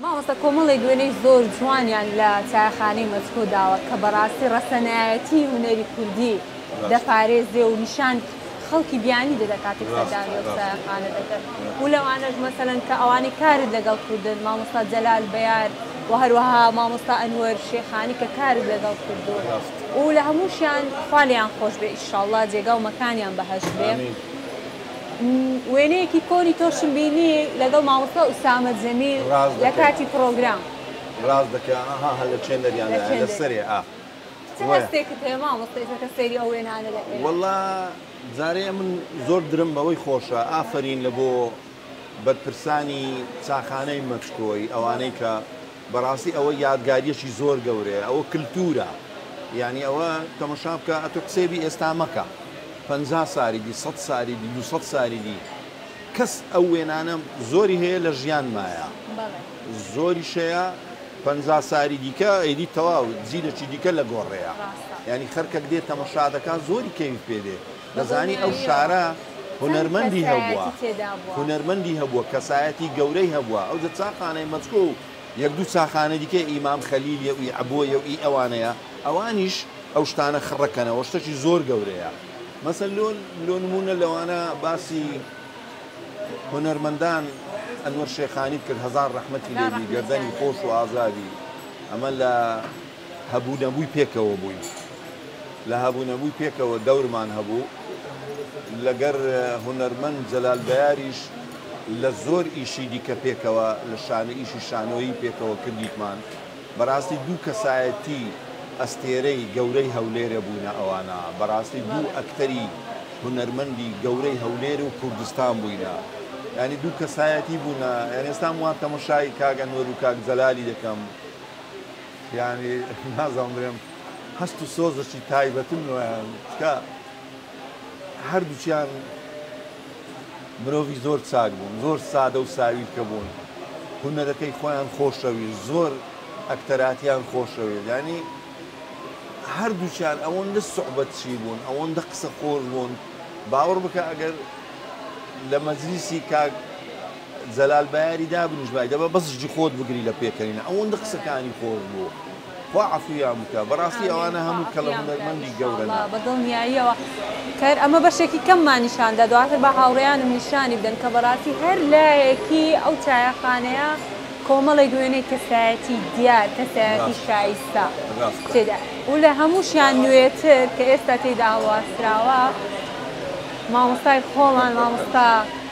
مامۆستا کۆمەڵێک وێنەی زۆر جوانیان لە چایەخانەی مەسکۆ داوە کە بەڕاستی ڕەسەنایەتی هونەری کوردی دەپارێزێ و نیشان خەڵکی بیانی دەدە کاتێک سەردانی ئەو چایەخانە دەکەن و لەوانەش مەسەلەن کە ئەوانەی کارت لەگەڵ کوردن مامۆستا جەلال بەیار و هەروەها مامۆستا ئەنوەر شێخانی کە کارت لەگەڵ کردووە و لە هەمووشیان خوا لێیان خۆش بێ ئیشاڵڵا جێگا و مەکانیان بەهەشت بێ. وێنەیەکی کۆنی تۆشم بینی لەگەڵ مامۆستا ئوسامە جەمیل لە کاتی پڕۆگرام. ڕاست دەکەی ئەها هەر لە چێندەریان لە چێندەری. لەسەرێ ئا چ وەیە. هەستێکت هەیە مامۆستا ئیتر کە سەیری ئەو وێنانە دەکەی؟ وەڵا جارێ من زۆر درم بەوەی خۆشە ئافەرین لە بۆ بەرپرسانی چاخانەی مەچکۆی ئەوانەی کە بەڕاستی ئەوە یادگاریەکی زۆر گەورەیە ئەوە کلتورە یانی ئەوە تەمەشا بکە ئەتو قسەی بی ئێستا مەکە پەنجا ساری دی سەد ساری دی دوسەد ساری دی کەس ئەو وێنانە زۆری هەیە لە ژیان مایە زۆری شەیە پەنجا ساری دیکە ئەیدی تەواو جیلەکی دیکە لە گۆڕەیە یانی خەرکەک دێ تەمەشا دەکا زۆری کەوی پێ دێ دەزانی ئەو شارە هونەرمەندی هەبووە هونەرمەندی هەبووە کەسایەتی گەورەی هەبووە ئەو جە چاخانەی مەچکۆ و یەک دوو چاخانە دیکە ئیمام خەلیل یە وی عبۆ یە ئی ئەوانەیە ئەوانیش ئەو شتانە خڕەکەنەوە شتەکی زۆر گەورەیە مەسەن لۆ لۆ نمونە لەوانە باسی هونەرمەندان ئەنوەر شێخانیت کرد هەزار ڕەحمەتی لێبی گەردەنی خۆش و ئازادی ئەمە لە هەبوو نەبووی پێکەوە بووین. لە هەبوو نەبووی پێکەوە دەورمان هەبوو. لەگەر هونەرمەند جەلال بەیاریش لە زۆر ئیشی دیکە پێکەوە لە شانۆ ئیشی شانۆیی پێکەوە کردیتمان. بەراستی دوو کەسایەتی ئەستێرەی گەورەی هەولێرە بووینە ئەوانە. بەراستی دوو ئەکتەری هونەرمەندی گەورەی هەولێر و کوردستان بووینە. یانی دوو کەسایەتی بوونە. یانی ئێستام وا تەمەشای کاک ئەنوەر و کاک جەلالی دەکەم. یانی نازانم بلێم هەست و سۆزەکی تایبەتم لۆیان چکە هەردووچیان مرۆڤی زۆر چاک بوون زۆر سادە و ساویلکە بوون هونەرەکەی خۆیان خۆشەویست زۆر ئەکتەراتیان خۆشەوێت ینی هەردووچیان ئەوەندە سوعبەت چی بوون ئەوەندە قسە خۆش بوون باوەڕ بکە ئەگەر لە مەجلیسی کاک جەلال بەیاری دابنیش بای دەبە بەس جی خۆت بگری لە پێکەنینە ئەوەندە قسەکانی خۆش بوو خوا عەفویان بکە بەڕاستی ئەوانە هەموو کەڵە هونەرمەندی گەورەنە. بە دڵنیاییەوە کەر ئەمە بەشێکی کەممان نیشان دا دواتر با هاوڕێیانم نیشانی بدەن کە بەڕاستی هەر لایەکی ئەو چایەخانەیە کۆمەڵێک وێنەی کەسایەتی دیار کەسایەتی ڕاستە شایستە ڕاستە تێدا و لە هەمووشیان نوێتر کە ئێستا تێیدا هەڵواسراوە مامۆستای خۆمان مامۆستا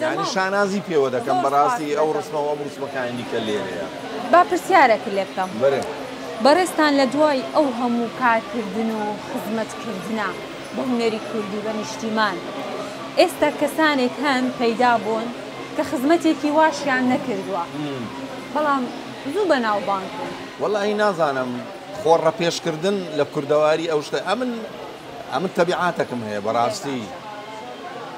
یانی شانازی پێوە دەکەم بەڕاستی ئەو ڕسمە وەم ڕسمەکانی دیکە لێرەیە. با پرسیارێکت لێ بکەم بەڕێزتان لە دوای ئەو هەموو کارکردن و خزمەتکردنە بە هونەری کورد و بە نیشتیمان ئێستا کەسانێک هەن پەیدا بوون کە خزمەتێکی واشیان نەکردووە بەڵام زوو بە ناوبانگ بوون؟ وەلاهی نازانم خۆ ڕەپێشکردن لە کوردەواری ئەو شتە ئەمن ئەمن تەبیعاتەکم هەیە بەڕاستی.